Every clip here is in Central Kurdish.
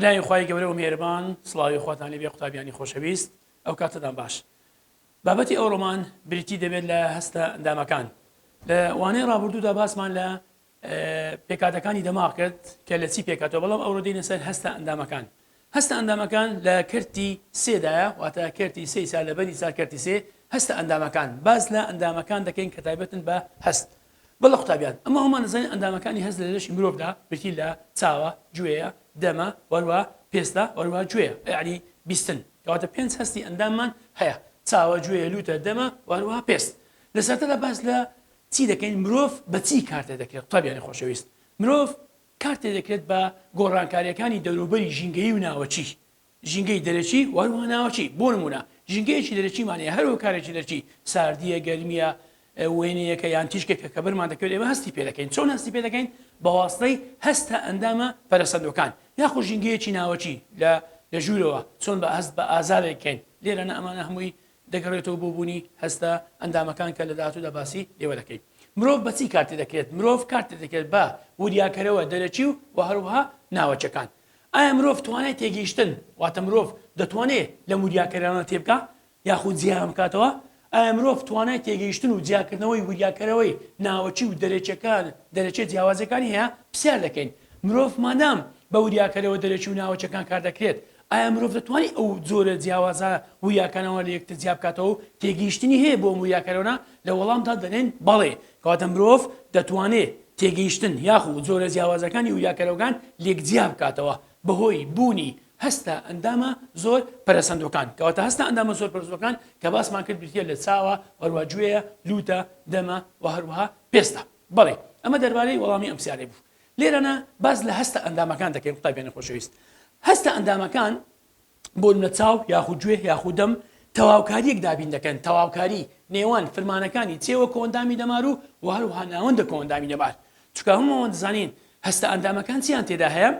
بەناوی خوای گەورە و مێربان سڵاوی خواتان لێبێ قوتابیانی خۆشەویست ئەو کاتەدان باش بابەتی ئەو ڕۆمان بریتی دەبێت لە هەستە ئەندامەکان لە وانەی ڕابردوودا باسمان لە پێکهاتەکانی دەماغ کرد کە لە چی پێکهاتوە بەڵام ئەوڕۆ دێنە سەر هەستە ئەندامەکان هەستە ئەندامەکان لە کەرتی سێدایە واتە کەرتی سی سا لە بەری سا کەرتی سێ هەستە ئەندامەکان باز لە ئەندامەکان دەکەین کە تایبەتن بە هەست بەڵە قوتابیان ئەمە هەمان نزانین ئەندامەکانی هەست لە لەشی مرۆڤدا بریتی لە چاوە گوێیە دەمە وەروە پێستە وەروە گوێیە یعنی بیستن کەواتە پێنج هەستی ئەنداممان هەیە چاوە گوێیە لوتە دەمە وەروە پێست لە سەرتەدا باس لە چی دەکەین مرۆڤ بە چی کار تێدەکرێت؟ قوتابیانی خۆشەویست مرۆڤ کار تێدەکرێت بە گۆڕانکارییەکانی دەوروبەری ژینگەیی و ناوەکی، ژینگەی دەرەکی و هەروەها ناوەکی، بۆ نموونە ژینگەیەکی دەرەکیمان هەیە هەر هۆکارێکی دەرەکی، ساردییە، گەرمییە، وێنەیەکە یان تیشکێکە کە بەرمان دەکەوێت ئێمە هەستی پێ دەکەین، چۆن هەستی پێ دەکەین بە واستەی هەستە ئەندامە پەرەسەندووەکان، یاخود ژینگەیەکی ناوەکی لە لە ژوورەوە چۆن بە هەست بە ئازارێک کەین، لێرەنا ئەمانە هەمووی دەگەڕێتەوە بۆ بوونی هەستە ئەندامەکان کە لە داهاتوودا باسی لێوە دەکەین مرۆڤ بە چی کار تێدەکرێت مرۆڤ کار تێدەکرێت بە وریاکەرەوە دەرەکی و وە هەروەها ناوەکیەکان ئایا مرۆڤ توانای تێگەیشتن واتە مرۆڤ دەتوانێ لەم وریاکەرانە تێبگا یاخود جیایان بکاتەوە ئایا مرۆڤ توانای تێگەیشتن و جیاکردنەوەی وریاکەرەوەی ناوەکی و دەرەکیەکان دەرەکیە جیاوازەکانی هەیە پرسیار دەکەین مرۆڤ مادام بە وریاکەرەوە دەرەکی و ناوەکیەکان کار دەکرێت ئایا مرۆڤ دەتوانێت ئەو جۆرە جیاوازە وویاکانەوە لە یەکتر جیا بکاتەوە و تێگەیشتنی هەیە بۆ ئەم وویاکانەوە؟ لە وەڵامدا دەلێن بەڵێ، کەواتە مرۆڤ دەتوانێت تێگەیشتن یاخو جۆرە جیاوازەکانی وویاکانەوەکان لێک جیا بکاتەوە بەهۆی بوونی هەستە ئەندامە زۆر پەرەسەندوەکان، کەواتە هەستە ئەندامە زۆر پەرەسەندوەکان کە باسمان کرد بریتیە لە چاوە، هەروەها گوێیە، لووتە، دەمە و هەروەها پێستە. بەڵێ، ئەمە دەربارەی وەڵامی ئەم پرسیارەی بوو. لێرەنا باس لە هەستە ئەندامەکان دەکەین قوتابیانی خۆشەویست هەستە ئەندامەکان بۆ لە چاو یاخود گوێ یاخودەم تەواوکاریەک دابین دەکەن تەواوکاری نێوان فرمانەکانی چێوە کۆندامی دەمار و و هەروها ناوەندە کۆندامی دەمار چکە هەمووەوە دەزانین هەستە ئەندامەکان چیان تێدا هەیە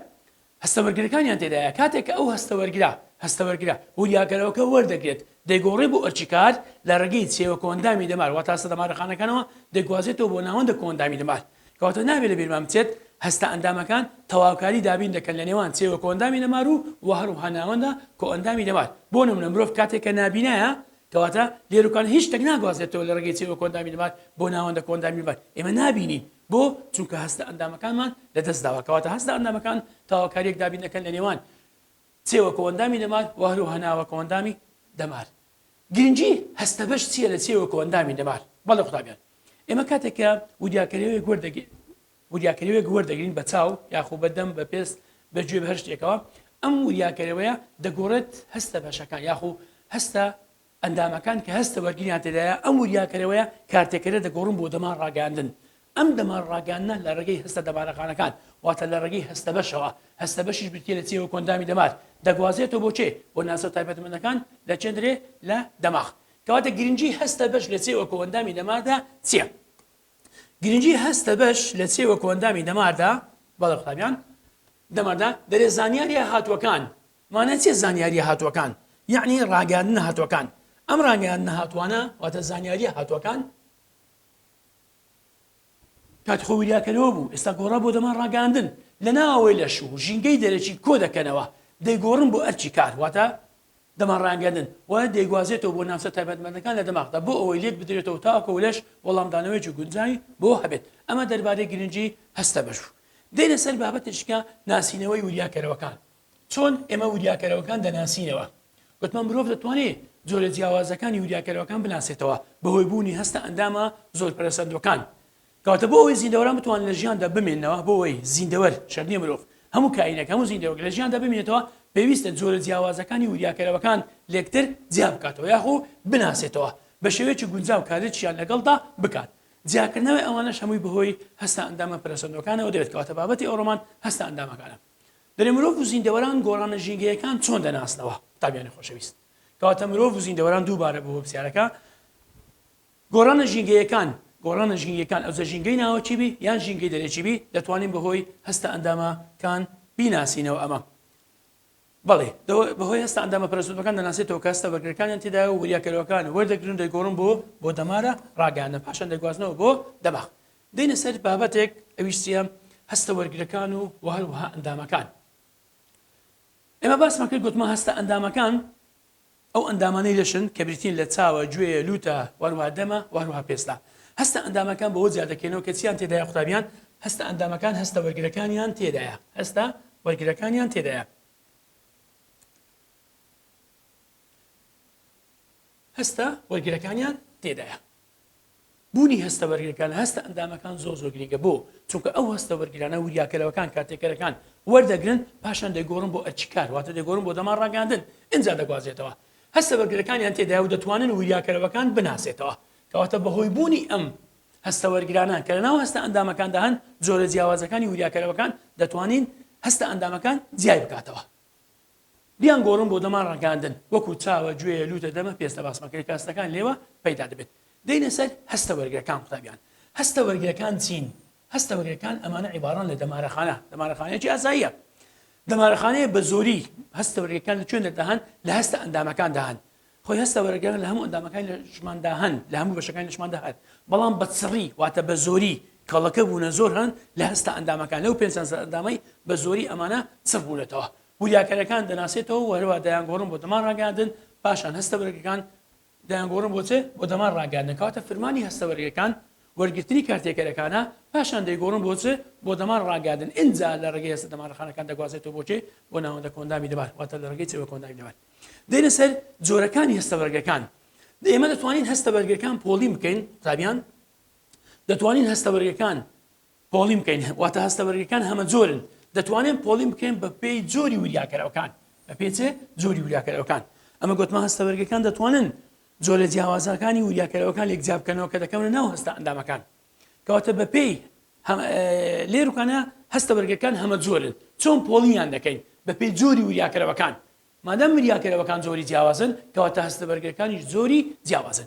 هەستەوەرگرەکانیان تێدایە، کاتێک کە ئەو هەستەوەرگرە، هەستەوەرگرە، وریاگەرەوەکە وەردەگرێت، دەیگۆڕێ بۆ ئەرکیکار، لە ڕێگەی چێوە کۆئەندامی دەمار واتە هەستە دەمارەخانەکانەوە دەگوازێتەوە بۆ ناوەندە کۆئەندامی دەمار. کەواتە نابێ لە بیرمان بچێت هەستە ئەندامەکان تەواوکاری دابین دەکەن لە نێوان چێوە کۆئەندامی دەمار و و هەروەها ناوەندە کۆئەندامی دەمار. بۆ نمونە مرۆڤ کاتێک کە نابینایە کەواتە لێرۆکانە هیچ شتێک ناگوازێتەوە لە ڕێگەی چێوە کۆئەندامی دەمار بۆ ناوەندە کۆئەندامی دەمار ئێمە نابینین، بۆ؟ چونکە هەستە ئەندامەکانمان لە دەست داوە، کەواتە هەستە ئەندامەکان تاوەکاریەک دابین دەکەن لە نێوان چێوە کۆئەندامی دەمار و هەرو هەناوە کۆئەندامی دەمار. گرنگی هەستە بەش چیە لە چێوە کۆئەندامی دەمار؟ بەڵێ قوتابیان ئێمە کاتێک کە وریاکەرێوێک وەردەگ وریاکەرێوێک وەردەگرین بە چاو یاخۆ بە دەم بە پێست بە گوێ بە هەر شتێکەوە ئەم وریاکەرەوەیە دەگۆڕێت هەستە بەشەکان یاخۆ هەستە ئەندامەکان کە هەستە وەرگیریان تێدایە ئەم وریاکەرەوەیە کارتێکەرە دەگۆڕن بۆ دەمار ڕاگەیاندن ئەم دەمار ڕاگەیاندنە لە ڕێگەی هەستە دەمارەخانەکان واتە لە ڕێگەی هەستە بەشەوە هەستە بەشیش بریتیە لە چێوە کۆندامی دەمار دەگوازێتەوە بۆ چێ بۆ ناسۆ تایبەتمەندەکان لە چێندرێ لە دەماغ کەواتە گرنگی هەستە بەش لە چێوە کۆندامی دەماردا چییە؟ گرنگی هەستە بەش لە چێوە کۆندامی دەماردا بەڵە قوتابیان دەماردا دەرێ زانیاریە هاتووەکان مانای چیە زانیاریە هاتووەکان؟ یەعنی ڕاگەیاندنە هاتووەکان ئەم ڕاگەیاندنە هاتووانە واتە زانیاریە هاتووەکان. کات خۆی وریاکەرەوە بوو ئێستا گۆڕا بۆ دەمان ڕاگەیاندن لەناوەوەی لەش و ژینگەی دەرەکی کۆ دەکەنەوە دەیگۆڕن بۆ ئەرکی کار واتە دەمان ڕاگەیاندن و دەیگوازێتەوە بۆ ناوچە تایبەتمەندەکان لە دەماغدا بۆ ئەوەی لێک بدرێتەوە تاکۆ لەش وەڵامدانەوەیەکی گونجاوی بۆ هەبێت ئەمە دەربارەی گرنگی هەستە بەش بوو. دێینە سەر بابەتێکیکە ناسینەوەی وریاکەرەوەکان چۆن ئێمە وریاکەرەوەکان دەناسینەوە؟ گوتمان مرۆڤ دەتوانێت جۆرە جیاوازەکانی وریاکەرەوەکان بناسێتەوە بەهۆی بوونی هەستە ئەندامە زۆر پەرەسەندووەکان. کەواتە بۆ ئەوەی زیندەوەران بتوانن لە ژیاندا بمێننەوە، بۆ ئەوەی زیندەوەر، شەرت نییە مرۆڤ، هەموو کائینێک، هەموو زیندەوەرێک لە ژیاندا بمێنێتەوە، پێویستە جۆرە جیاوازەکانی وریاکەرەوەکان لێکتر جیا بکاتەوە یاخو بناسێتەوە، بە شێوەیەکی گونجاو کارێکیان لەگەڵدا بکات. جیاکردنەوەی ئەوانەش هەمووی بەهۆی هەستە ئەندامە پەرەسەندووەکانەوە دەبێت، کەواتە بابەتی ئەو ڕۆمان هەستە ئەندامەکانە. دەرێ مرۆڤ و زیندەوەران گۆڕانە ژینگەیەکان چۆن دەناسنەوە؟ قوتابیانی خۆشەویست، کەواتە مرۆڤ و زیندەوەران دووبارە بۆ بەپرسیارەکە، گۆڕانە ژینگەیەکان، گۆڕانە ژینگەیەکان ئەوجە ژینگەی ناوەکی بی یان ژینگەی دەرەکی بی، دەتوانین بەهۆی هەستە ئەندامە کان بیناسینەوە ئەمە، بەڵی، بەهۆی هەستە ئەندامە پەرەسوتمەکان دەناسێتەوە کە هەستە بەرگرەکانیان تێدایە و وریاکەرەوەکان وەردەگرن و دەیگۆڕن بۆ بۆ دەمارە ڕاگەیاندن پاشان دەگوازنەوە بۆ دەماغ. دێینە سەر بابەتێک ئەویش چیە هەستە وەرگرەکان و وە هەروەها ئەندامەکان ئێمە باسمان کرد گوتمان هەستە ئەندامەکان ئەو ئەندامانەی لەشن کە بریتین لە چاوە گوێە لوتە وەروها دەمە وەروها پێستا هەستە ئەندامەکان بەوە جیا دەکەینەوە کە چیان تێدای قوتابیان هەستە ئەندامەکان هەستە وەرگرەکانیان تێدایە هەستە وەرگرەکانیان تێدایە هەستە وەرگرەکانیان تێدایە بوونی هەستە بەرگەکە لە هەستە ئەندامەکان زۆر زۆر گرنگە بۆ چونکە ئەو هەستە بەرگرانە وریاکەرەوەکان کاتێکەرەکان وەردەگرن پاشان دەگۆڕن بۆ ئەرچکار واتە دەگۆڕن بۆ دەما ڕاگەاندن ئینجا دەگوازێتەوە هەستە بەرگرەکانیان تێدایە و دەتوانن وریاکەرەوەکان بناسێتەوە کەواتە بەهۆی بوونی ئەم هەستە وەرگرانان کە لەناو هەستە ئەندامەکاندا هەن جۆرە جیاوازەکانی وریاکەرەوەکان دەتوانین هەستە ئەندامەکان جیای بکاتەوە بیان گۆڕن بۆ دەمان ڕەنگاندن وەکو چاوە گوێیە لوتە دەمە پێستە باسمەکەی کاستەکان لێوە پەیدا دەبێت دێینە سەر هەستە وەرگرەکان قوتابیان هەستە وەرگرەکان چین هەستە وەرگرەکان ئەمانە عیباران لە دەمارەخانە دەمارەخانەیەکی ئاساییە دەمارەخانەیە بە زۆری هەستە وەرگرەکان لە کوێن دەردەهان لە هەستە ئەندامەکان دەهان خۆی هەستە وەرەگەرە لە هەموو ئەندامەکانی لە شماندا هەن لە هەموو بەشەکانی لە شماندا هەن بەڵام بە چڕی واتە بە زۆری کەڵەکە بوونە زۆر هەن لە هەستە ئەندامەکان لەو پێنج سەر ئەندامەی بە زۆری ئەمانە چڕ بوونەتەوە وریاکەرەکان دەناسێتەوە و هەروە دەیانگۆڕن بۆ دەمان ڕاگەاندن پاشان هەستە بەرگەکان دەیانگۆڕن بۆچێ بۆ دەمان ڕاگەاندنکەواتە فرمانی هەستە بەرگەکان وەرگرتنی کارتێکەرەکانە پاشان دەیگۆڕن بۆچێ بۆ دەمان ڕاگەاندن ئینجا لە ڕێگەی هەستە دەمانەخانەکان دەگوازێتەوە بۆچێ بۆ ناوەندە کۆندامی دەبات واتە لە ڕێگەی چێوە کۆندامی دەبات دێنە سەر جۆرەکانی هەستەبەرگەکان ئێمە دەتوانین هەستەبەرگەکان پۆڵی بکەین قوتابیان دەتوانین هەستەبەرگەکان پۆڵی بکەین واتە هەستەبەرگەکان هەمە جۆرن دەتوانین پۆڵی بکەین بە پێی جۆری وریاکەرەوەکان بە پێچێ جۆری وریاکەرەوەکان ئەمە گوتمان هەستەبەرگەکان دەتوانن جۆرە جیاوازەکانی وریاکەرەوەکان لێک جیابکەنەوە کە دەکەونە ناو هەستە ئەندامەکان کەواتە بەپێی لێرکانە هەستە بەرگەکان هەمە جۆرن چۆن پۆڵیان دەکەین بەپێی جۆری وریاکەرەوەکان مادەم وریاکەرەوەکان جۆری جیاوازن کەواتە هەستە بەرگەکانیش جۆری جیاوازن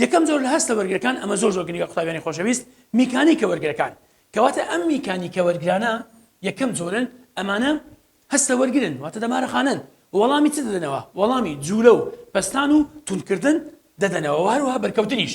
یەکەم جۆر لە هەستە بەرگەکان ئەمە زۆر زۆر گرنگە قوتابیانی خۆشەویست میکانی کە وەرگەکان کەواتە ئەم میکانی کە وەرگرانە یەکەم جۆرن ئەمانە هەستە وەرگن واتە دەمارەخانن وەڵامی چ دەدەنەوە وەڵامی جوولە و پستان و تونکردن دەدەنەوە هەروها بەرکەوتنیش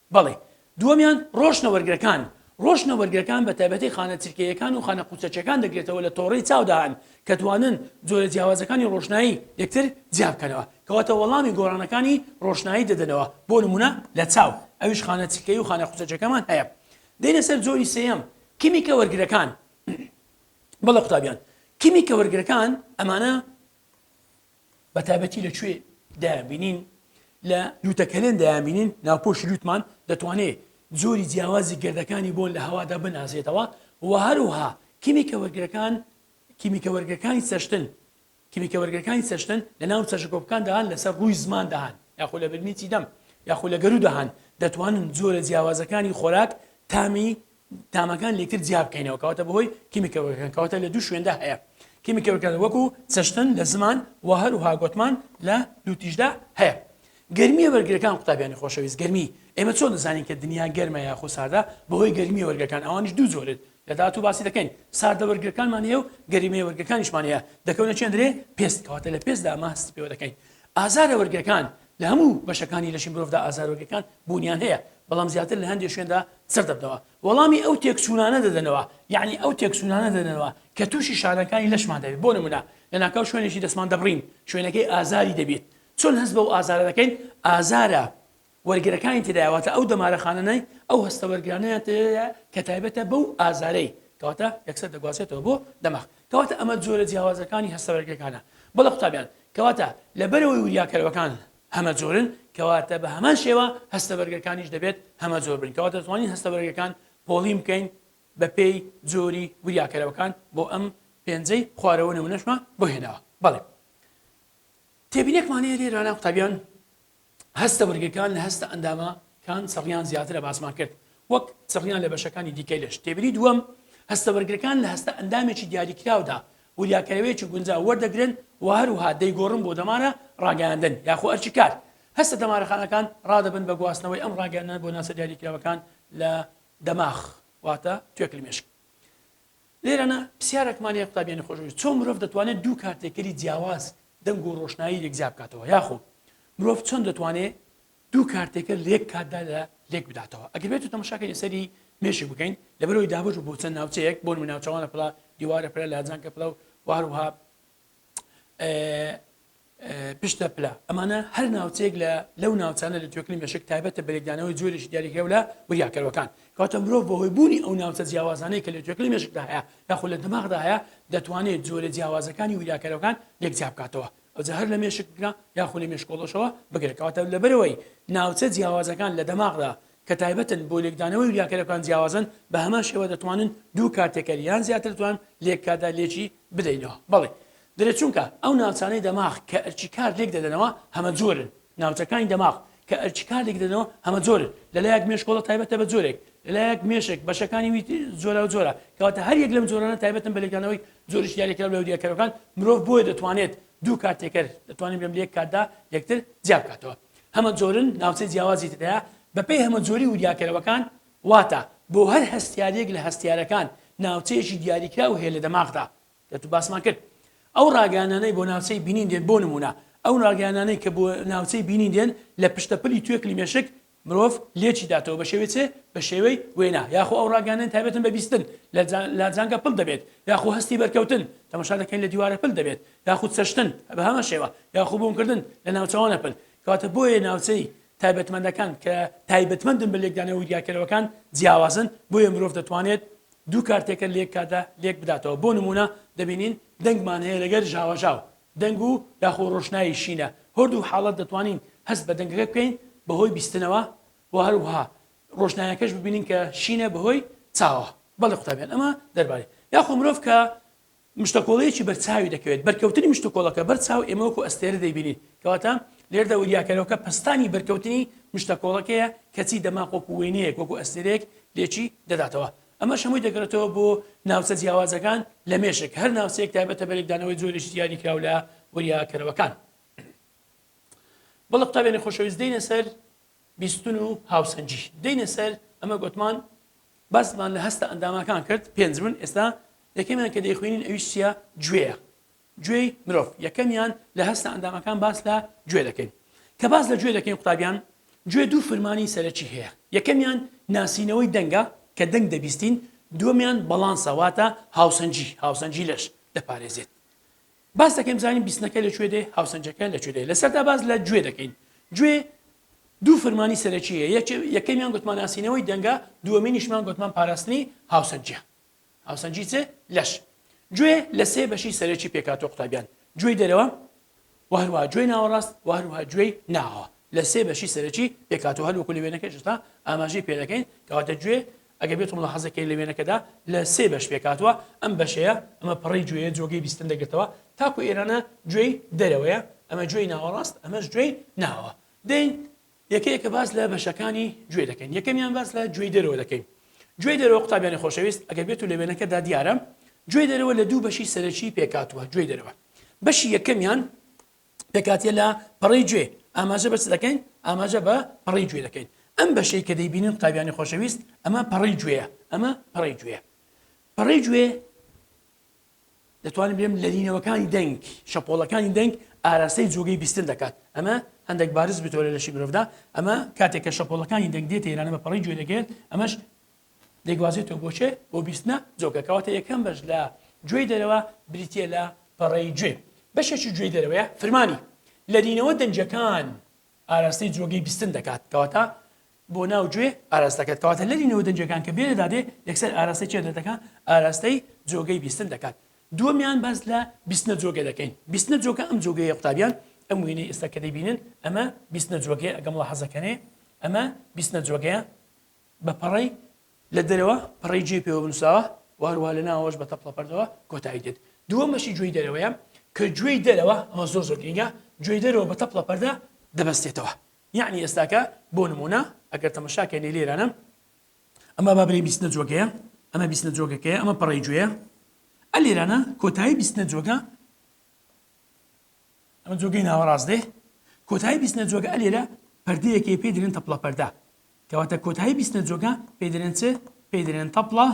بەڵی. دووەمیان، ڕۆشنە وەرگرەکان، ڕۆشنە وەرگرەکان بە تایبەتی خانە چرکەییەکان و خانە قوچەچەکان دەگرێتەوە لە تۆڕەی چاودا هەن کە توانن جۆرە جیاوازەکانی ڕۆشنایی یەکتر جیا بکەنەوە کەواتە وەڵامی گۆڕانەکانی ڕۆشنایی دەدەنەوە بۆ نمونە لە چاو ئەویش خانە چرکەیی و خانە قوچەچەکەمان هەیە دێنە سەر جۆری سێیەم کیمیکە وەرگرەکان بەڵێ قوتابیان کیمیکە وەرگرەکان ئەمانە بە تایبەتی لە کوێ دایان بینین؟ لە لووتە کەلێن دایان بینین، ناوپۆشی لووتمان دەتوانێت جۆری جیاوازی گەردەکانی بۆن لە هەوادا بنازێتەوە و هەروەها کیمیکە وەرگرەکان کیمیکە وەرگرەکانی چەشتن کیمیکە وەرگرەکانی چەشتن لە ناو چەشەکۆپکاندا هەن لەسەر ڕووی زماندا هەن یاخۆ لە برمیی دەم یاخۆ لە گەروودا هەن دەتوانن جۆرە جیاوازەکانی خۆراک تامی تامەکان لێکتر جیا بکەینەوە کەواتە بەهۆی کیمیکەوەکان کەواتە لە دوو شوێندا هەیە کیمیکەوەکان وەکو چەشتن لە زمان و هەروها گۆتمان لە دووتیشدا هەیە گەرمیە وەرگەکان قوتابیانی خۆشەویست گەرمی ئێمە چۆن دەزانین کە دنیا گەرمە یاخۆ ساردە بەهۆی گەرمی وەرگەکان ئەوانش دوو جۆرت لە داات و باسی دەکەین ساردە وەرگەکانمان هەیە و گەریمەیە وەرگەکانیشمان هەیە دەکەونە چێندرێ پێست کەواتە لە پێستدا ماست پێوە دەکەین ئازارە وەرگەکان لە هەموو بەشەکانی لەشی مرۆڤدا ئازاروەگەکان بوونیان هەیە، بەڵام زیاتر لە هەندێ شوێندا سەردەبنەوە وەڵامی ئەو تێکچوونانە دەدەنەوە، یەعنی ئەو تێکچوونانە دەدەنەوە کە تووشی شانەکانی لەشمان دەبین، بۆ نموونە لەناکاو شوێنێکی دەستمان دەبڕین شوێنەکەی ئازاری دەبێت چۆن هەست بەو ئازارە دەکەین ئازارە وەرگرەکانی تێدایە واتە ئەو دەمارە خانانەی ئەو هەستە وەرگرانەیان تێدایە کە تایبەتە بەو ئازارەی کەواتە یەکسەر دەگوازێتەوە بۆ دەماغ کەواتە ئەمە جۆرە جیاوازەکانی هەستە بەرگەکانە بەڵێ قوتابیان کەواتە لەبەرەوەی وریاکەرەوەکان هەمە جۆرن کەواتە بە هەمان شێوە هەستە بەرگەکانیش دەبێت هەمە جۆر بن کەواتە توانین هەستە بەرگەکان پۆڵی بکەین بە پێی جۆری وریاکەرەوەکان بۆ ئەم پێنجەی خوارەوە نمونەشمان بۆ هێناوە بەڵێ تێبینێکمانەیە لێرانە قوتابیان هەستە وەرگەکان لە هەستە ئەندامە کان چڕیان زیاترە باسمان کرد وەک چڕیان لە بەشەکانی دیکەی لەش تێبینی دووەم هەستە وەرگرەکان لە هەستە ئەندامێکی دیاریکراودا وریاکەرەوەیەکی گونجاو وەردەگرن و هەروها دەیگۆڕن بۆ دەمارە ڕاگەیاندن یاخۆ ئەرکی کار هەستە دەمارەخانەکان ڕادەبن بە گواستنەوەی ئەم ڕاگەیاندنە بۆ ناچە دیاریکراوەکان لە دەماخ واتە توێکلی مێشک لێرەنا پسیارەکمان هەیە قوتابیانی خۆشەویست، چۆن مرۆڤ دەتوانێت دوو کارتێکەری جیاواز دەنگ و ڕۆشنایی یەکجیا بکاتەوە؟ یاخۆ مرۆڤ چۆن دەتوانێ دوو کارتێکەر لە یەک کاتدا لە لێک بداتەوە؟ ئەگەر بێتو تەماشاکەین لەسەری مێشک بکەین لەبەرەوەی دابەش بوو بۆ چەند ناوچەیەک بۆ نمونە ناوچەوانە پڵە دیوارە پلە لاجانکە پڵە و وهەروەها پشتە پلە ئەمانە هەر ناوچەیەک لە لەو ناوچانە لە توێکلی مەشک تایبەتە بەێکدانەوەی جۆرێکی دیاری هێو لە وریاکەرەوەکان کاتە مرۆڤ بەهۆی بوونی ئەو ناوچە جیاوازانەی کە لە توێکلی مەشکدا هەیە یاخود لە دماغدا هەیە دەتوانێت جۆرە جیاوازەکانی وریاکەرەوەکان یەکجیا بکاتەوە ئەوجا هەر لە مێشکگرا یاخود لە مێشکۆڵەشەوە بگرێتەوەتە لەبەرەوەی ناوچە جیاوازەکان لە دەماغدا کە تایبەتن بۆ لێکدانەوەی وریا کەرەکان جیاوازن بە هەمان شێوە دەتوانن دوو کار تێکەر یان زیاتر توان لێک کاردا لێکی بدەینەوە بەڵی درێت چونکە ئەو ناوچانەی دەماغ کە ئەرکی کار لێک دەدەنەوە هەمە جۆرن ناوچەکانی دەماغ کە ئەرکی کار لێک دەدەنەوە هەمە جۆرن لە لایەک مێشکۆڵە تایبەتە بە جۆرێک لە لایەک مێشک بەشەکانی وی جۆرا و جۆرە کەواتە هەر یەک لەم جۆرانە تایبەتن بە لێکدانەوەی جۆری شیاری کراو لە وریاکەرەکان مرۆڤ بۆیە دەتوانێت دوو کار تێکەر دەتوانین بێم لە یەک کاتدا یەکتر جیا بکاتەوە هەمەجۆرن ناوچەی جیاوازی تێدایە بەپێی هەمەجۆری وریاکەرەوەکان واتە بۆ هەر هەستیارێک لە هەستیارەکان ناوچەیەکی دیاریکراو هەیە لە دەماغدا کەتو باسمان کرد ئەو ڕاگەیانانەی بۆ ناوچەی بینین دێن بۆ نمونە ئەو ڕاگەیانانەی کە بۆ ناوچەی بینین دێن لە پشتە پلی توێکلی مێشک مرۆڤ لێکی داتەوە بە شێوەی چێ بە شێوەی وێنا یاخۆ ئەو ڕاگەیانەن تابێتن بە بیستن لە لاجانگە پل دەبێت یاخۆ هەستی بەرکەوتن تەمەشا دەکەین لە دیوارە پل دەبێت یاخود سەشتن بە هەمان شێوە یاخو بوونکردن لە ناوچەوانە پل کەواتە بۆیە ناوچەی تایبەتمەندەکان کە تایبەتمەندن بە لێکدانەوە وریاکەرەوەکان جیاوازن بۆیە مرۆڤ دەتوانێت دوو کارتێکە لێک کاتدا لێک بداتەوە بۆ نمونە دەبینین دەنگمان هەیە لەگەر ژاوەژاو دەنگ و یاخۆ ڕۆشنایی شینە هەردوو حاڵەت دەتوانین هەست بە دەنگەکە بکەین بەهۆی بیستنەوە و هەروها ڕۆشنایەکەش ببینین کە شینە بەهۆی چاوە بەڵێ قوتابیان ئەمە دەربارەی یاخۆ مرۆڤ کە مشتەکۆڵەیەکی بەرچاوی دەکەوێت، بەرکەوتنی مشتوکۆڵەکە بەر چاو ئێمە وەکو ئەستێرە دەیبینین، کەواتە لێردا وریاکەرەوەکە پەستانی بەرکەوتنی مشتەکۆڵەکەیە، کەچی دەماخ وەکو وێنەیەک، وەکو ئەستێرەیەک لێکی دەداتەوە. ئەمەش هەمووی دەگەڕێتەوە بۆ ناوچە جیاوازەکان لە مێشک، هەر ناوچەیەک تایبەتە بە لێکدانەوەی جۆرێکی دیاریکراو لە وریاکەرەوەکان. بەڵێ قوتابیانی خۆشەویست دێینە سەر بیستن و هاوسەنگی. دێینە سەر ئەمە گۆتمان باسمان لە هەستە ئەنداماکان کرد پێنج بوون ئێستا یەکەمیان کە دەیخوێنین ئەویش چیە گوێیە گوێی مرۆڤ یەکەمیان لە هەستە ئەندامەکان باس لە گوێ دەکەین کە باس لە گوێ دەکەین قوتابیان گوێ دوو فرمانی سەرەکی هەیە یەکەمیان ناسینەوەی دەنگە کە دەنگ دەبیستین دووەمیان بەڵانسە واتە هاوسەنگی هاوسەنگی لەش دەپارێزێت باس دەکەین بزانین بیستنەکە لە کوێ دێ هاوسەنگەکە لە کوێ دێ لە سەردا باس لە گوێ دەکەین گوێ دوو فرمانی سەرەکی هەیە یەکێ- یەکەمیان گوتمان ناسینەوەی دەنگە دووەمینیشمان گوتمان پاراستنی هاوسەنگیە هاوسەنگی چێ لەش گوێ لە سێ بەشی سەرەکی پێکهاتوە قوتابیان گوێی دەرەوە و هەروەها گوێی ناوەڕاست و هەروەها گوێی ناوە لە سێ بەشی سەرەکی پێکهاتوە هەر وەکو لە وێنەکەشدا ئاماژەی پێ دەکەین کەواتە گوێ ئەگەر بێتو ملاحەزە کەی لە وێنەکەدا لە سێ بەش پێکهاتوە ئەم بەشەیە ئەمە پەڕەی گوێیە جۆگەی بیستن دەگرتەوە تاکو ئێرانە گوێی دەرەوەیە ئەمە گوێی ناوەڕاست ئەمەش گوێی ناوە دەین یەکە یەکە باس لە بەشەکانی گوێ دەکەین یەکەمیان باس لە گوێی دەرەوە دەکەین گوێی دەرەوە قوتابیانی خۆشەویست ئەگەر بێتو لە وێنەکەدا دیارە گوێی دەرەوە لە دوو بەشی سەرەکی پێکاتوە گوێی دەرەوە بەشی یەکەمیان پێکهاتە لە پەڕەی گوێ ئاماژە بە چ دەکەین؟ ئاماژە بە پەڕەی گوێ دەکەین. ئەم بەشەی کە دەیبینن قوتابیانی خۆشەویست ئەمە پەڕەی گوێیە، ئەمە پەڕەی گوێیە. پەڕەی گوێ دەتوانم بێم لەرینەوەکانی دەنگ، شەپۆڵەکانی دەنگ ئاراستەی جۆگەی بیستن دەکات. ئەمە هەندێک بارز بتۆ لە لەشی مرۆڤدا، ئەمە کاتێک کە شەپۆڵەکانی دەنگ دێتە ئێرانە بە پەڕەی گوێ دەگەێت، ئەمەش دەیگوازێتەوە بۆ چێ؟ بۆ بیستنە جۆگە. کەواتە یەکەم بەش لە گوێی دەرەوە بریتییە لە پەڕەی گوێ. بەشێکی گوێی دەرەوەیە فرمانی لەرینەوە دەنگەکان ئاراستەی جۆگەی بیستن دەکات. کەواتە بۆ ناو گوێ ئاراستە دەکات. کەواتە لەرینەوە دەنگەکان کە گوێ لەدا دێ یەکسەر ئاراستەی چێ دەکات؟ ئاراستەی جۆگەی بیستن دەکات. دووەمیان باس لە بیستنە جۆگە دەکەین. بیستنە جۆگە ئەم جۆگەیە قوتابیان، ئەم وێنەی ئێستا کە دەیبینن ئەمە بیستنە جۆگەیە ئەگەم مولاحەزە کەنێ ئەمە بیستنە جۆگەیە. بە پەڕەی لە دەرەوە پەڕەی جێ پێوە بنووسراوە و هەروەها لە ناوەوەش بە تەپڵە پەردەوە کۆتایی دێت. دووەمەشی گوێی دەرەوەیە کە گوێی دەرەوە، ئەمە زۆر زۆر گرینگە، گوێی دەرەوە بە تەپڵە پەردە دەبەستێتەوە. یەعنی ئێستاکە بۆ نموونە ئەگەر تەمەشا کەینەی لێرانە، ئەمە با بلێین بیستنە جۆگەیە، ئەمە بیستنە جۆگەکەیە، ئەمە پەڕەی گوێیە، ئە لێرانە کۆتایی بیستنە جۆگە ئەمە جۆگەی ناوەڕاست دێ کۆتایی بیستنە جۆگە ئەلێرە پردەیەکی پێ درێن تەپڵە پەردا کەواتە کۆتایی بیستنە جۆگە پێ درێن چ پێ درێن تەپڵە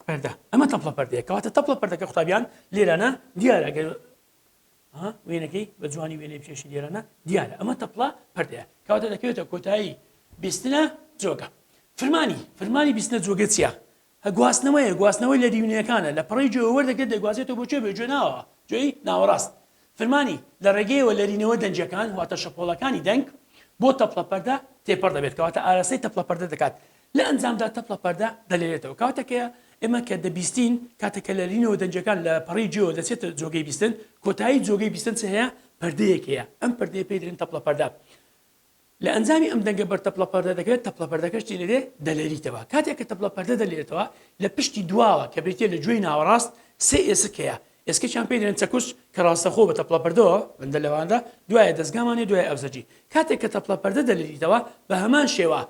پەردا ئەمە تەپڵە پەردەیە کەواتە تەپڵە پەردەکە قوتابیان لێرانە دیارە گەر وێنەکەی بە جوانی وێنێ پێشی لێرانە دیارە ئەمە تەپڵە پردەیە کەواتە دەکەوێتە کۆتایی بیستنە جۆگە فرمانی فرمانی بیستنە جۆگە چیە هە گواستنەوەیە، گواستنەوەی لە دیونەکانە، لە پەڕەی گوێوە وەردەگرێت دەیگوازێتەوە بۆ کوێ؟ بۆ گوێ ناوەوە، گوێی ناوەڕاست. فرمانی، لە ڕێگەیەوە لەرینەوە دەنگیەکان واتە شەپۆڵەکانی دەنگ بۆ تەپڵە پەردە تێپەڕ دەبێت کەواتە ئاراستەی تەپڵە پەردە دەکات لە ئەنجامدا تەپڵە پەردە دەلێرێتەوە کاتەکە ئێمە کە دەبیستین کاتە کە لەرینەوە دەنگیەکان لە پەڕی گوێوە دەچێتە جۆگەی بیستن کۆتایی جۆگەی بیستن چ هەیە پەردەیەک هەیە ئەم پەردەیە پێی دەرێن تەپڵە پەردە لە ئەنجامی ئەم دەنگە بەر تەپڵە پەردە دەکرێت، تەپڵە پەردەکەش چی دەلێ؟ دەلەریتەوە. کاتێک کە تەپڵە پەردە دەلەرێتەوە، لە پشتی دواوە کە بریتیە لە گوێی ناوەڕاست سێ ئێسک هەیە، ئێسکەکیان پێی دەلێن چەکوچ کە ڕاستەخۆ بە تەپڵە پەردەوە بەندە لەواندا، دوایە دەزگامان هەیە دوای ئەوزەجی. کاتێک کە تەپڵە پەردە دەلەریتەوە بە هەمان شێوە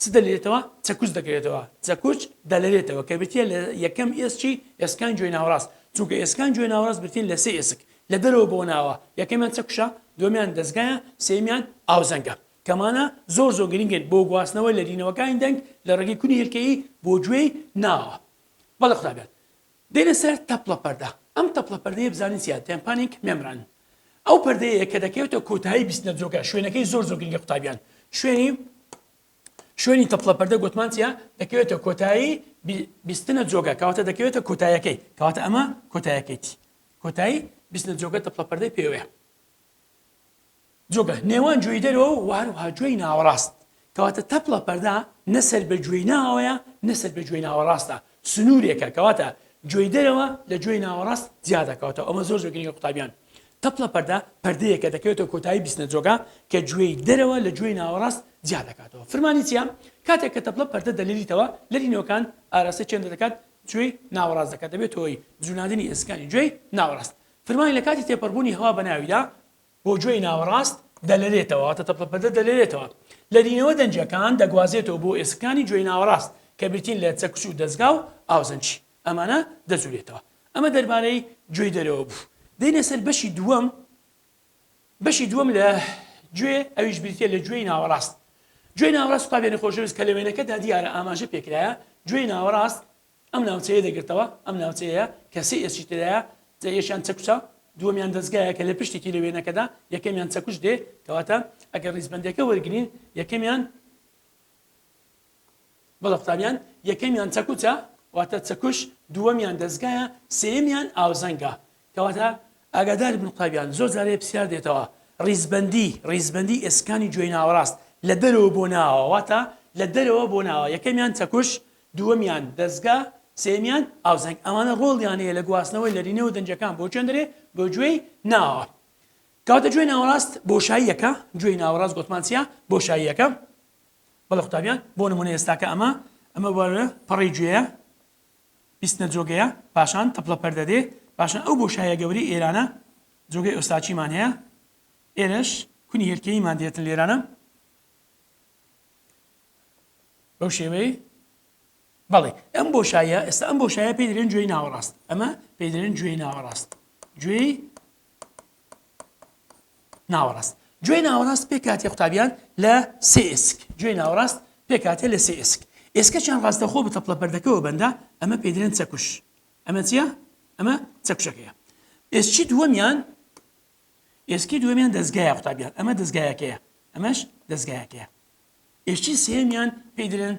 چ دەلێرێتەوە؟ چەکوچ دەکەوێتەوە، چەکوچ دەلەرێتەوە، کە بریتییە لە یەکەم ئێسکی ئێسکان گوێی ناوەڕاست، چونکە ئێسکان گوێی ناوەڕاست بریتین لە سێ ئێسک، لە دەرەوە بۆ ناوە، یەکەمیان چەکوچە، دووەمیان دەزگایە، سێیەمیان ئاوزەنگە. کەمانە زۆر زۆر گرنگن بۆ گواستنەوەی لەرینەوەکانی دەنگ لە ڕێگەی کونی هێلکەیی بۆ گوێی ناوە. بەڵێ خودا بیات. دێنە سەر تەپڵە پەردە، ئەم تەپڵە پەردەیە بزانین چیە، دەیان پانینگ مێمبران ئەو پەردەیەیە کە دەکەوێتە کۆتایی بیستنە جۆگە، شوێنەکەی زۆر زۆر گرنگە قوتابیان شوێنی شوێنی تەپڵە پەردە گۆتمان چیە دەکەوێتە کۆتایی بیستنە جۆگە کەواتە دەکەوێتە کۆتایەکەی کەواتە ئەمە کۆتایەکەیتی کۆتایی بیستنە جۆگە تەپڵە پەردەی پێوەیە جوگە، نێوان گوێی دەرەوە و هەروەها گوێی ناوەڕاست، کەواتە تەپڵە، پەردە، نە سەر بە گوێی ناوەوەیە نە سەر بە گوێی ناوەڕاستە، سنوورێکە، کەواتە گوێی دەرەوە لە گوێی ناوەڕاست جیا دەکاتەوە، ئەمە زۆر زۆر گرنگە قوتابیان، تەپڵە، پەردە، پەردەیەکە دەکەوێتە کۆتایی بیستنە جوگە کە گوێی دەرەوە لە گوێی ناوەڕاست جیا دەکاتەوە. فرمانی چییە؟ کاتێک کە تەپڵە، پەردە، دەلێریتەوە، لەرینەوەکان ئاراستەی چێندە دەکات؟ گوێی ناوەڕاست دەکات، دەبێتە هۆی جووڵانەدنی ئێسکەکانی گوێی ناوەڕاست. فرمانی لە کاتی تێپەڕبوونی هەوا بە ناویدا، بۆ گوێی ناوەڕاست دەلەرێتەوە، واتە تەپڵە پەدە دەلەرێتەوە. لەرینەوە دەنگیەکان دەگوازێتەوە بۆ ئێسکەکانی گوێی ناوەڕاست کە بریتین لە چەکوچ و دەزگا و ئاوزەنگی ئەمانە دەجولێتەوە. ئەمە دەربارەی گوێی دەرەوە بوو. دێینە سەر بەشی دووەم، بەشی دووەم لە گوێ ئەویش بریتیە لە گوێی ناوەڕاست. گوێی ناوەڕاست قوتابیانی خۆشەویست کە لە وێنەکەدا دیارە ئاماژە پێکرایە، گوێی ناوەڕاست ئەم ناوچەیە دەگرتەوە، ئەم ناوچەیەیە کە سێ ئێسکی تێدایە، جا یەکیان چەکوچە، دووەمیان دەزگایە کە لە پشتی تیرە وێنەکەدا، یەکەمیان چەکوچ دێ، کەواتە ئەگەر ڕیزبەندیەکە وەرگرین یەکەمیان، بەڵێ قوتابیان، یەکەمیان چەکوچە، واتە چەکوچ، دووەمیان دەزگایە، سێیەمیان ئاوزەنگە، کەواتە ئاگادار بن قوتابیان زۆر جارێ پرسیار دێتەوە ڕیزبەندی ڕیزبەندی ئێسکانی جۆی ناوەڕاست لە دەرەوە بۆ ناوە واتە لە دەرەوە بۆ ناوە یەکەمیان چەکوش دووەمیان دەزگا سێیەمیان ئاوزەنگ ئەمانە ڕۆڵیان هەیە لە گواستنەوەی لەرینەوە دەنگەکان بۆ چێندرێ بۆ جۆی ناوە کەواتە جۆی ناوەڕاست بۆشاییەکە جۆی ناوەڕاست گۆتمان چیە بۆشاییەکە بەڵە قوتابیان بۆ نمونە ئێستاکە ئەمە ئەمە وەرە پەڕی جۆیە بیستنە جۆگەیە پاشان تەپڵە پەردە دێ پاشان ئەو بۆشایە گەورەی ئێرانە جۆگەی ئۆستاچیمان هەیە ئێرەش کونی هێلکەییمان دێتن لێرانە بەو شێوەی بەڵێ ئەم بۆشایە ئێستا ئەم بۆشایە پێدرێن گوێی ناوەڕاست ئەمە پێدرێن گوێی ناوەڕاست گوێی ناوەڕاست گوێ ناوەڕاست پێ کاتێ قوتابیان لە سێ ئێسک گوێ ناوەڕاست پێ کاتێ لە سێ ئێسک ئێسکەچیان ڕاستەخۆ بە تەپڵە پەردەکەەوە بەندە ئەمە پێدرێن چەکوش ئەمە چیە ئەمە چەکشەکەیە ئێسکی دووەمیان ئێسکی دووەمیان دەستگایە قوتابیان ئەمە دەستگایەکەیە ئەمەش دەستگایەکەیە ئێشتی سێمیان پێدرێن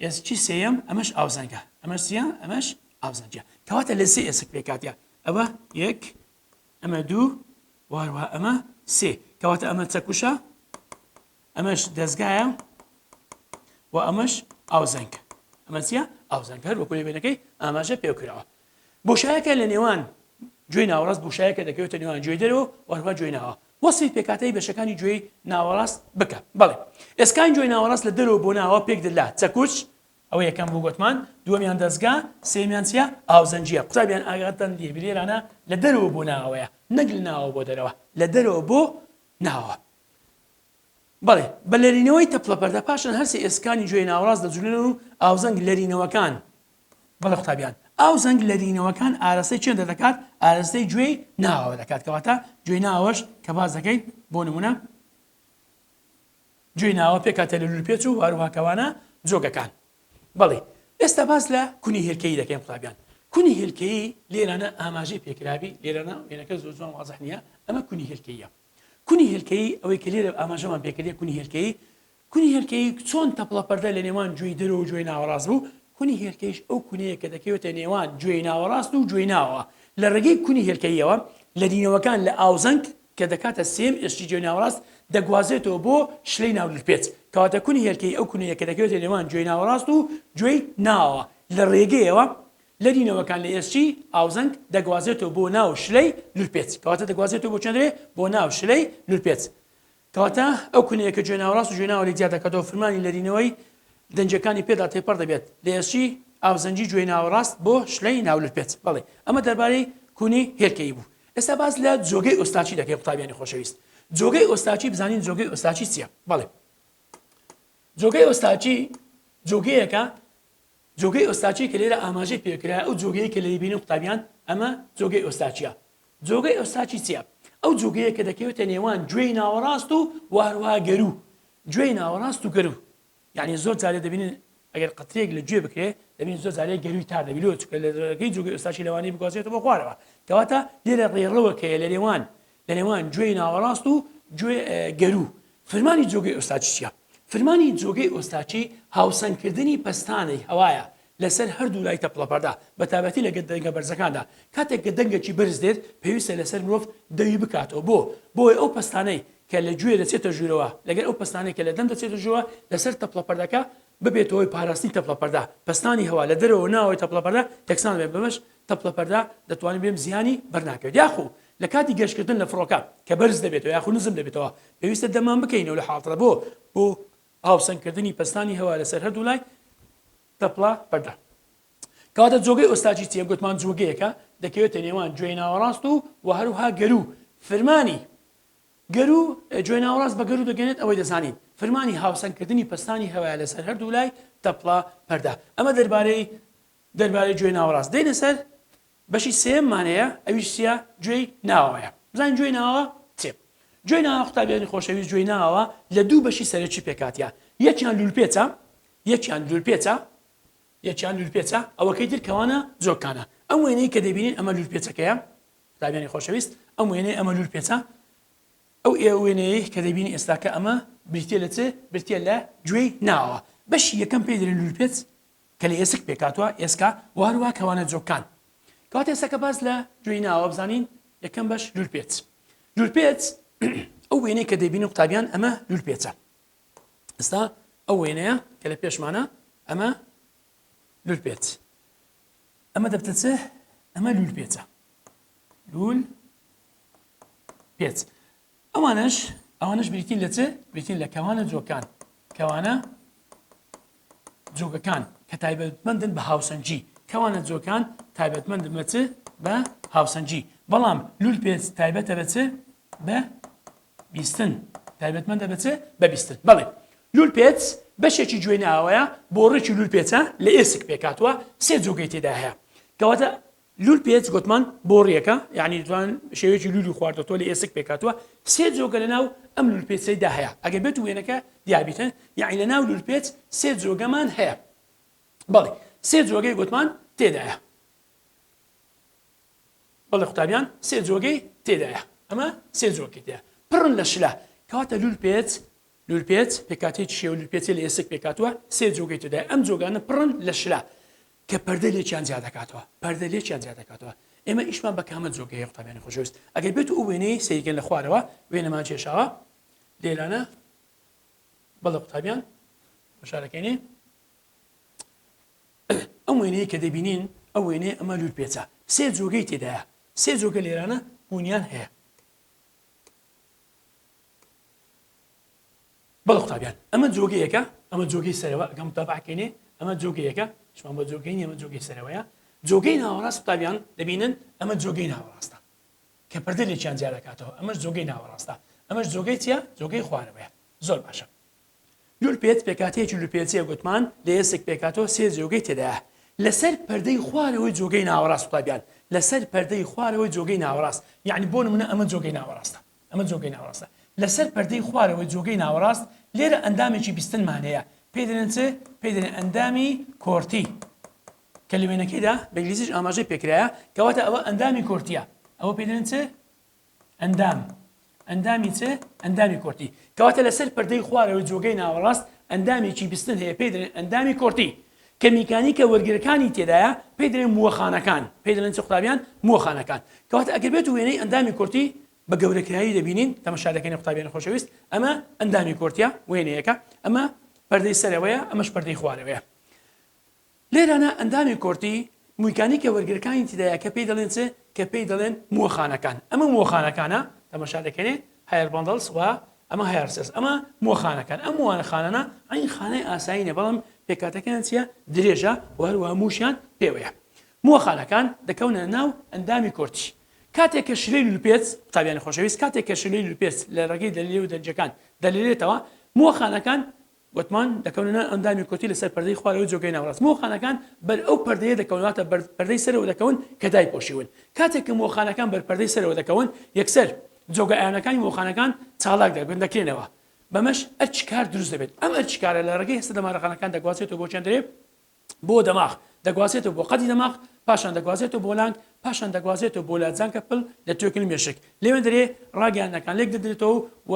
ئێسکی سێیەم ئەمەش ئاوزەنگە ئەمەش چیە ئەمەش ئاوزەنگە کەواتە لە سێ ئێسک پێکاتە ئەوە یەک ئەمە دوو واروا ئەمە سێ کەواتە ئەمە چەکوشە ئەمەش دەستگایە و ئەمەش ئاوزەنگە ئەمە چیە ئاوزەنگەر وەکو لێبێنەکەی ئاماژە پێکراوە بۆشایەکە لە نێوان گوێی ناوەڕاست بۆشایەکە دەکەوێتە نێوان گوێی دەرەوە و هەروە گوێی ناوە. وەسفی پێکهاتەی بەشەکانی گوێی ناوەڕاست بکە. بەڵێ. ئێسکانی گوێی ناوەڕاست لە دەرەوە بۆ ناوە پێک دە لە، چەکوچ، ئەوە یەکەم بوو گۆتمان، دووەمیان دەزگا، سێیەمیان چیە؟ ئاوزەنگیە. قوتابیان ئاگاتان لێ بێ لێرانە لە دەرەوە بۆ ناوەیە نەک لە ناوە بۆ دەرەوە. لە دەرەوە بۆ ناوە. بەڵێ. بە لەرینەوەی تەپڵە پەردە پاشان هەر سێ ئێسکانی گوێی ناوەڕاست دەجولێنەوە و ئاوزەنگ لەرینەوەکان بەڵێ قوتابیان، ئاو زەنگ لەرینەوەکان ئارەستەی چیان دەردەکات، ئارەستەی گوێی ناوەوە دەکات، کەواتە گوێی ناوەش کە باس دەکەین بۆ نمونە گوێی ناوە پێکهاتە لە لولپێچ و هەروها کەوانە جۆگەکان بەڵی ئێستا باس لە کونی هێلکەی دەکەین قوتابیان کونی هێلکەی لێرانە ئاماژەی پێکراوی لێرانە وێنەکە زۆر جوان وازح نییە ئەمە کونی هێلکەیە کونی هێلکەی ئەوەی کە لێرە ئاماژەمان پێکردێ کونی هێلکەی کونی هێلکەیی چۆن تەپڵە پەردە لە نێوان گوێی دەرەوە و گوێی ناوەڕاست بوو؟ کونی هێلکەییش ئەو کونەیە کە دەکەوێتە نێوان گوێی ناوەڕاست و گوێی ناوەوە. لە ڕێگەی کونی هێلکەییەوە لەدینەوەکان لە ئاوزەنگ کە دەکاتە سێیەم ئێسکی گوێی ناوەڕاست دەگوازێتەوە بۆ شلەی ناو لرپێچ. کەواتە کونی هێلکەیی ئەو کونەیە کە دەکەوێتە نێوان گوێی ناوەڕاست و گوێی ناوەوە لە ڕێگەیەوە لەدینەوەکان لە ئێسکی ئاوزەنگ دەگوازێتەوە بۆ ناو شلەی لرپێچ. کەواتە دەگوازێتەوە بۆ کوێندرێ؟ بۆ ناو شلەی لرپێچ. کەواتە ئەو کونەیە کە جوێناوە ڕاست و جوێناوە لێک جیا دەکاتەوە فرمانی لەرینەوەی دەنگەکانی پێدا تێپەڕ دەبێت لە ئێسکی ئاوزەنگی جوێی ناوە ڕاست بۆ شلەی ناولرپێت بەڵی ئەمە دەربارەی کونی هێلکەیی بوو ئێستا باس لە جۆگەی ئۆستاچی دەکەین قوتابیانی خۆشەویست جۆگەی ئۆستاچی بزانین جۆگەی ئۆستاچی چیە بەڵێ جۆگەی ئۆستاچی جۆگەیەکە جۆگەی ئۆستاچی کە لێرە ئاماژەی پێکرایە ئەو جۆگەیەی کە لێی بینن قوتابیان ئەمە جۆگەی ئۆستاچیە جۆگەی ئۆستاچی چیە ئەو جۆگەیە کە دەکەوێتە نێوان گوێی ناوەڕاست و وهروها گەرو گوێی ناوەڕاست و گەرو یعنی زۆر جارێ دەبینن ئەگەر قەترێک لە گوێ بکرێ دەبین زۆر جارێ گەروی تا دەبیلۆ چکە لەگەی جوگەی ئۆستاچی لەوانی بگوازێتەوە خوارەوە کەواتە لێرە ڕێڕەوەکەیە لە نێوان لە نێوان گوێی ناوەڕاست و گوێ گەروو. فرمانی جۆگەی ئۆستاچی چیە؟ فرمانی جۆگەی ئۆستاچی هاوسەنگکردنی پەستانی هەوایە لەسەر هەردوو لای تەپڵەپەردا بەتابەتی لە دەنگە بەرزەکاندا کاتێک کە دەنگەکی بەرز دێت پێویستە لەسەر مرۆڤ دەوی بکاتەوە بۆ بۆی ئەو پەستانەی کە لە گوێ دەچێتە ژوورەوە لەگەر ئەو پەستانەی کە لە دەم دەچێتە ژووە لەسەر تەپڵەپەردەکە ببێتە هۆی پاراستنی تەپڵەپەردا پەستانی هەوا لە دەرەوە ناوەوەی تەپڵەپەردا یەکسان بێت بەمەش تەپڵەپەردا دەتوانین بێم زیانی بەرناکەوێت یاخۆ لە کاتی گەشتکردن لە فڕۆکە کە بەرز دەبێتەوە یاخود نزم دەبێتەوە پێویستە دەرمان بکەینەوە لە حاڵتە بۆ بۆ ئاوسەنگکردنی پەستانی هەوا لەسەر هەردوو لای تەپڵە پەردە کەواتە جۆگەی ئۆستاجی چیە گوتمان جوگەیەکە دەکەوێتە نێوان گوێی ناوەڕاست و و هەروها گەرو فرمانی گەرو جوێ ناوەڕاست بە گەرو دەگەنێت ئەوەی دەزانین فرمانی هاوسەنگکردنی پستانی هەوایە لەسەر هەردوو لای تەپڵە پەردا ئەمە دەربارەی دەربارەی گوێ ناوەڕاست دێنە سەر بەشی سێیەممان هەیە ئەویش چیە گوێی ناوەیە بزانین گوێی ناوە چێ گوێی ناوە قوتابیانی خۆشەویست گوێی ناوە لە دوو بەشی سەرەکی پێکاتە یەکیان لولپێچە یەکیان لولپێچە یەکیان لولپێچە ئەوەکەی تر کەوانە جۆکانە ئەم وێنەی کە دەبینین ئەمە لولپێچەکەیە قوتابیانی خۆشەویست ئەم وێنەی ئەمە لولپێچە ئەو ئێ وێنەیە کە دەبینی ئێستاکە ئەمە بریتە لە چێ برتە لە گوێی ناوە بەشی یەکەم پێ درێن لولپێچ کە لە ئێسک پێکهاتووە، ئێسکا، و هەروەها کەوانە جۆککان. کەواتە ئێستا کە باس لە گوێی ناوە بزانین، یەکەم بەش لولپێچ. لولپێچ ئەو وێنەی کە دەیبینن قوتابیان ئەمە لولپێچە. ئێستا ئەو وێنەیە کە لە پێشمانە ئەمە لولپێچ. ئەمە دەبتە چ؟ ئەمە لولپێچە. لول پێچ. ئەوانەش ئەوانەش بریتین لە چ بریتین لە کەوانە جۆکان کەوانە جۆگەکان کە تایبەتمەندن بە هاوسەنگی کەوانە جۆکان تایبەتمەند بە چ بە هاوسەنگی بەڵام لول پێچ تایبەتە بە چ بە بیستن تایبەتمەندە بە چ بە بیستن بەڵێ لول پێچ بەشێکی گوێ ناوەیە بۆ ڕێکی لول پێچە لە ئێسک پێکاتوە سێ جۆگەی تێدا هەیە کەواتە لول پێچ گۆتمان بۆڕیەکە یانی جوان شێوەیەکی لولی خواردۆتۆ لە ئێسک پێکاتوە سێ جۆگە لە ناو ئەم لول پێچەی دا هەیە ئەگەر بێت وێنەکە دیابیتە یانی لە ناو لول پێچ سێ جۆگەمان هەیە بەڵێ سێ جۆگەی گۆتمان تێدایە بەڵێ قوتابیان سێ جۆگەی تێدایە ئەمە سێ جۆکی تێ پڕن لە شلە کەواتە لول پێچ لول پێچ پێکاتێکی شێو لول پێچی لە ئێسک پێکاتوە سێ جۆگەی تێدای ئەم جۆگانە پڕن لە شلە کە پەردە لێکیان جیا دەکاتەوە پەردە لێکیان جیا دەکاتەوە ئێمە ئیشمان بە کامە جۆگەیە قوتابیانی خۆشەویست ئەگەر بێت و وێنەی سەیرکەن لە خوارەوە وێنەمان کێشاوە لێرانە بەڵە قوتابیان بەشارەکەینێ ئەم وێنەیە کە دەبینین ئەو وێنەیە ئەمە لول پێچە سێ جۆگەی تێدایە سێ جۆگە لێرانە بوونیان هەیە بەڵێ قوتابیان ئەمە جۆگەیەکە ئەمە جۆگەی سەرەوە ئەگەم تابعکەینێ ئەمە جۆگەیەکە شمان بە جۆگەینی ئەمە جۆگەی سەرەوەیە جۆگەی ناوەڕاست قوتابیان دەبینن ئەمە جۆگەی ناوەڕاستە کە پردە لێکیان جیادەکاتەوە ئەمەش جۆگەی ناوەڕاستە ئەمەش جۆگەی چیە جۆگەی خوارەوەیە زۆر باشە لول پێت پێکاتەیەکی لوپێچەیە گوتمان لە ئێسک پێکاتەوە سێ جۆگەی تێدایە لەسەر پەردەی خوارەوەی جۆگەی ناوەڕاست قوتابیان لەسەر پەردەی خوارەوەی جۆگەی ناوەڕاست یعنی بۆ نمونە ئەمە جۆگەی ناوەڕاستە ئەمە جۆگەی ناوەڕاستە لەسەر پەردەی خوارەوەی جۆگەی ناوەڕاست، لێرە ئەندامێکی بیستنمان هەیە پێی دەلێن چ؟ پێی دەلێن ئەندامی کۆرتی کە لە وێنەکەیدا بە ئینگلیزیش ئاماژەی پێکرایە کەواتە ئەوە ئەندامی کۆرتیە ئەوە پێی دەلێن چ؟ ئەندام ئەندامی چ؟ ئەندامی کۆرتی کەواتە لەسەر پەردەی خوارەوەی جۆگەی ناوەڕاست ئەندامێکی بیستن هەیە پێی دەلێن ئەندامی کۆرتی کە میکانیکە وەرگرەکانی تێدایە پێی دەلێن مووەخانەکان، پێی دەلێن چ قوتابیان؟ مووەخانەکان. کەواتە ئەگەر بێتو وێنەی ئەندامی کورتی بە گەورەکراوی دەبینین، تەمەشا دەکەنێ قوتابیانی خۆشەویست، ئەمە ئەندامی کورتە، وێنەیەکە، ئەمە پەردەی سەرەوەیە، ئەمەش پەردەی خوارەوەیە. لێرانە ئەندامی کورتی میکانیکە وەرگرەکانی تێدایە کە پێی دەلێن چ؟ کە پێی دەلێن مووەخانەکان. ئەمە مووەخانەکانە، تەمەشا دەکەنێ، هایەر باندڵس، وە ئەمە هەیارسێس ئەمە مۆ خانەکان ئەم وانە خانانە عین خانەی ئاسایینە بەڵام پێکاتەکەیان چیە درێژە و هەروە موشیان پێوەیە موە خانەکان دەکەونە ناو ئەندامی کۆرتی کاتێک کە شلەی لوپێت قوتابیانی خۆشەویست کاتێک کە شلەی لوپێت لە ڕێگەی دەلیلێ و دەنجەکان دەلیلێتەوە موە خانەکان گۆتمان، دەکەونە ناو ئەندامی کۆتی لە سەر پەردەی خوارەوەی جۆگەی ناوەڕاست، مۆخانەکان بەر ئەو پەردەیە دەکەون واتە بەر پەردەی سەرەوە دەکەون کە دایپۆشیون، کاتێک کە مۆخانەکان بەر پەردەی سەرەوە دەکەون یەکسەر جۆگە ئایۆنەکانی مۆخانەکان چالاک دەبن دەکرێنەوە بەمەش ئەرکی کار دروست دەبێت، ئەم ئەرکی کارە لە ڕێگەی هەستە دەمارەخانەکان دەگوازرێتەوە بۆ چەند رێ، بۆ دەماغ، دەگوازێتەوە بۆ قەدی دەماغ، پاشان دەگوازێتەوە بۆ لانگ، پاشان دەگوازێتەوە بۆ لادزانکە پل لە توێکل مێشک. لەوێندەرێ ڕاگەیاندنەکان لێکدەدرێتەوە و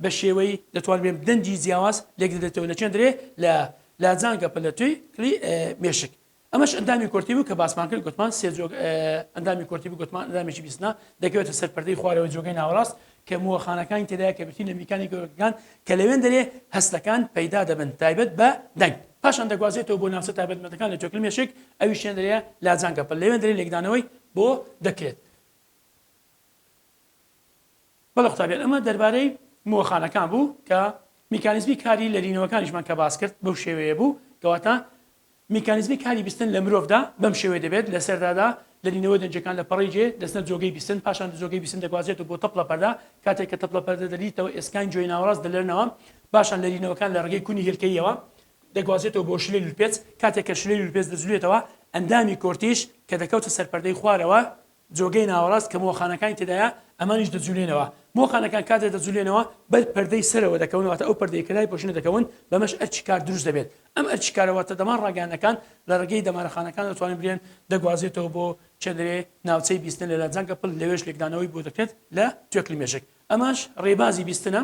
بە شێوەی دەتوانرێ دەنگی جیاواز لێکدەدرێتەوە لەکێندرێ لە لادزانکە پل لە توێ کلی مێشک. ئەمەش ئەندامی کۆرتی بوو کە باسمان کرد گوتمان سێ جۆ ئەندامی کۆرتی بوو گوتمان ئەندامێکی بیستنە دەکەوێتە سەر پەردەی خوارەوەی جۆگەی ناوەڕاست کە مووەخانەکانی تێدایە کە بریتین لە میکانی گەورکەکان کە لەوێن دەرێ هەستەکان پەیدا دەبن تایبەت بە دەنگ پاشان دەگوازێتەوە بۆ ناوچە تایبەتمەندەکان لە جۆکل مێشک ئەوی شوێن دەرێ لاجانگە پل لەوێن دەرێ لێکدانەوەی بۆ دەکرێت بەڵە قوتابیان ئەمە دەربارەی مووەخانەکان بوو کە میکانیزمی کاری لەرینەوەکانیشمان کە باس کرد بەو شێوەیە بوو کەواتە میکانیزمی کاری بیستن لە مرۆڤدا بەم شێوەیە دەبێت، لە سەرەتادا لەرینەوەی دەنگەکان لە پەڕەی جێ دەچنە جۆگەی بیستن، پاشان لەجۆگەی بیستن دەگوازرێتەوە بۆ تەپڵە پەردە، کاتێک کە تەپڵە پەردە دەریتەوە ئێسکانی جۆی ناوەڕاست دەلەرنەوە، پاشان لەرینەوەکان لە ڕێگەی کونی هێلکەییەوە، دەگوازرێتەوە بۆ شلەی لولپێچ، کاتێک کە شلەی لولپێچ دەجولێتەوە ئەندامی کۆرتیش کە دەکەوتە سەر پەردەی خوارەوە جۆگەی ناوەڕاست کە مۆخانەکانی تێدایە ئەمانیش دەجولێنەوە، مۆخانەکان کاتێ دەجولێنەوە بەر پەردەی سەرەوە دەکەون واتە ئەو پەردەیە کە لایپۆشینە دەکەون بەمەش ئەرکی کار دروست دەبێت ئەم ئەرکی کارە واتە دەمار ڕاگەیاندنەکان لە ڕێگەی دەمارە خانەکان دەتوانێت برێن دەگوازێتەوە بۆ چەنرێ ناوچەی بیستن لە لاجانکە پل لەوێش لێکدانەوەی بۆ دەکرێت لە توێکڵی مێشک ئەمەش ڕێبازی بیستنە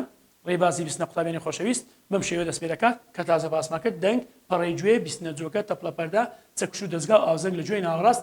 ڕێبازی بیستنە قوتابیانی خۆشەویست بەم شێوە دەست پێ دەکات کە تازە باسمان کرد دەنگ پەڕەی گوێ بیستنە جۆگە تەپڵە پەردە چەکوش و دەزگا و ئاوزەنگ لە گوێی ناوەڕاست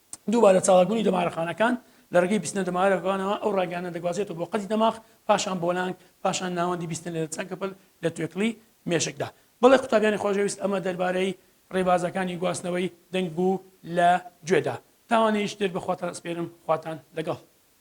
دووبارە چالاکبوونی دەمارەخانەکان لە ڕێگەی بیستنە دەمارەکانەوە ئەو ڕاگەیانە دەگوازێتەوە بۆ قەدی دەماغ پاشان بۆ لانگ پاشان ناوەندی بیستن لە چەنکەپل لە توێکڵی مێشکدا بەڵێ قوتابیانی خۆشەویست ئەمە دەربارەی ڕێبازەکانی گواستنەوەی دەنگ بوو لە گوێدا تاوانەیش دێت بەخواتان ئەسپێرم خواتان لەگەڵ.